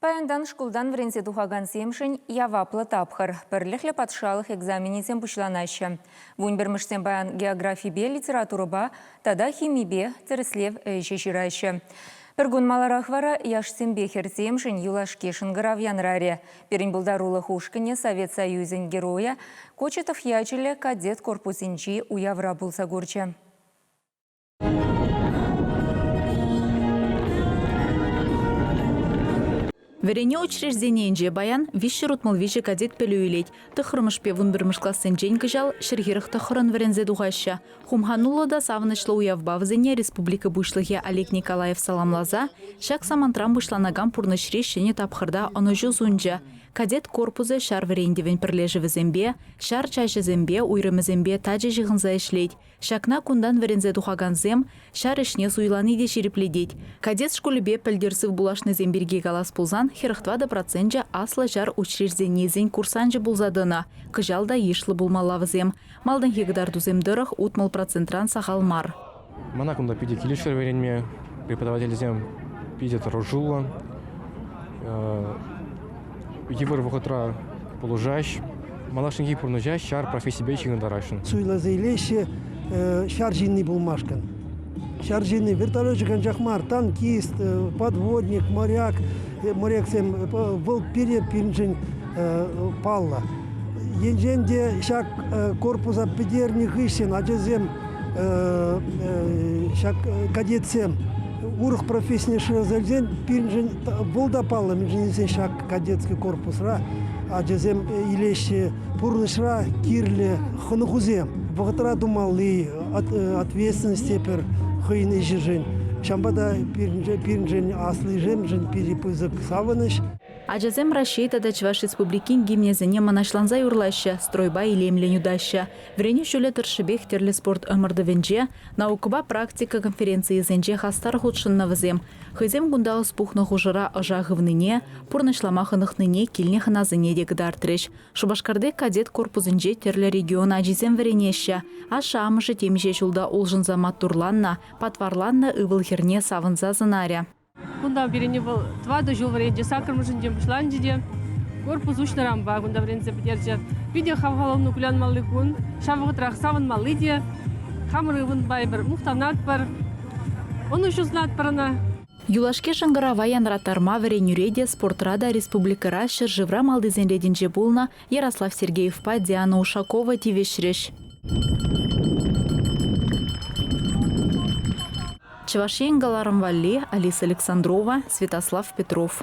Паянтан шкултан вӗренсе тухакансемшӗн яваплӑ тапхӑр. Пӗрлӗхлӗ патшалӑх экзаменӗсем пуҫланаҫҫӗ. Вун пӗрмӗшсем паян географипе, литературӑпа тата химипе тӗрӗслев ӗҫӗ ҫыраҫҫӗ. Пӗр кун маларах вара яшсемпе хӗрсемшӗн юлашки шӑнкӑрав янӑрарӗ. Пирӗн пултарулӑх ушкӑнӗ Совет Союзӗн Геройӗ Кочетов ячӗллӗ кадет корпусӗнчи уявра пулса курчӗ. Вӗренӳ учрежденийӗнче паян виҫҫӗр утмӑл виҫӗ кадет пӗлӳ илет. Тӑхрӑмӗшпе вун пӗрмӗш классенчен кӑҫал ҫӗрхӗрӗх тӑххӑрӑн вӗренсе тухаҫҫӗ. Хумхануллӑ та савӑнӑҫлӑ уявпа вӗсене республика Пуҫлӑхӗ Олег Николаев саламласа ҫак самантран пуҫланакан пурнӑҫри ҫӗнӗ тапхӑрта ӑнӑҫу сунчӗ. Кадет корпусӗ ҫар вӗрентӗвӗн пӗрлешӗвӗсемпе, ҫар чаҫӗсемпе, уйрӑмӗсемпе тачӑ ҫыхӑнса ӗҫлет, Ҫакна кунтан вӗренсе тухакансем ҫар ӗҫне суйлани те ҫирӗплетет. Кадет шкулӗпе пӗлтӗр сывпуллашнисем пирки калас пулсан хӗрӗх тӑватӑ проценчӗ аслӑ ҫар учрежденийӗсен курсанчӗ пулса тӑнӑ. Кӑҫал та йышлӑ пулмалла вӗсем. Малтанхи кӑтартусем тӑрӑх утмӑл процентран сахал мар. Мана кунта питӗ килӗшрӗ вӗренме. Преподавательсем питӗ тӑрӑшуллӑ. Йывӑр вӑхӑтра пулӑшаҫҫӗ, малашнехи пурнӑҫа ҫар профессийӗпе ҫыхӑнтараҫҫӗ. Суйласа илеҫҫӗ ҫар ҫынни пулмашкӑн. Ҫар ҫынни вертолечек анчах мар, танкист, подводник, моряк, моряксем вӑл пире пирӗншӗн паллӑ. Енчен те ҫак корпуса пӗтернӗ хыҫҫӑн ачасем ҫак кадетсем урӑх профессине шыраса илсен пирӗншӗн Вӑл та паллӑ, мӗншӗн тесен ҫак кадетский корпусра ачасем илеҫҫӗ пурнӑҫра кирлӗ хӑнӑхусем. Вӑхӑтра тумалли ответственность те пӗр хӑйӗн ӗҫӗшӗн, ҫавӑнпа та пирӗншӗн, аслишемшӗн питӗ пысӑк савӑнӑҫ. Ачасем Раҫҫей тата Чӑваш Республикин гимнӗсене мӑнаҫланса юрлаҫҫӗ, стройпа илемлӗн утаҫҫӗ. Вӗренӳ ҫулӗ тӑршшӗпех тӗрлӗ спорт ӑмӑртӑвӗнче, Наукӑпа практика конференцийӗсенче хастар хутшӑннӑ вӗсем. Хӑйсем кунта ӑс пухнӑ хушӑра ӑша хывнине, пурнӑҫлама хӑнӑхнине килнӗ хӑнасене те кӑтартрӗҫ. Шупашкарти кадет корпусӗнче тӗрлӗ регион ачисем вӗренеҫҫӗ. Ашшӗ-амӑшӗ темиҫе ҫулта улшӑнса маттурланнӑ, патварланнӑ ывӑл-хӗрне савӑнса сӑнарӗ. Кунта пирӗнне вӑл тӑватӑ ҫул вӗренчӗ, саккӑрмӗшӗнчен пуҫланчӗ те. Корпус уҫнӑранпа кунта вӗренсе пӗтерчӗ. Питӗ хавхалану кулянмалли кун. Ҫав вӑхӑтрах савӑнмалли те. Хамӑр ывӑн пайӑр, мухтанатпӑр. Ӑнӑҫусӑнатпӑр ӑна. Юлашки шӑнкӑрава янраттарма вӗренӳре те, спортра та республикӑра ҫӗршывра малтисен ретӗнче пулнӑ Ярослав Сергеевпа Диана Ушакова тивӗҫрӗҫ. Чӑваш Ен кӑларӑм валли Алиса Александрова, Святослав Петров.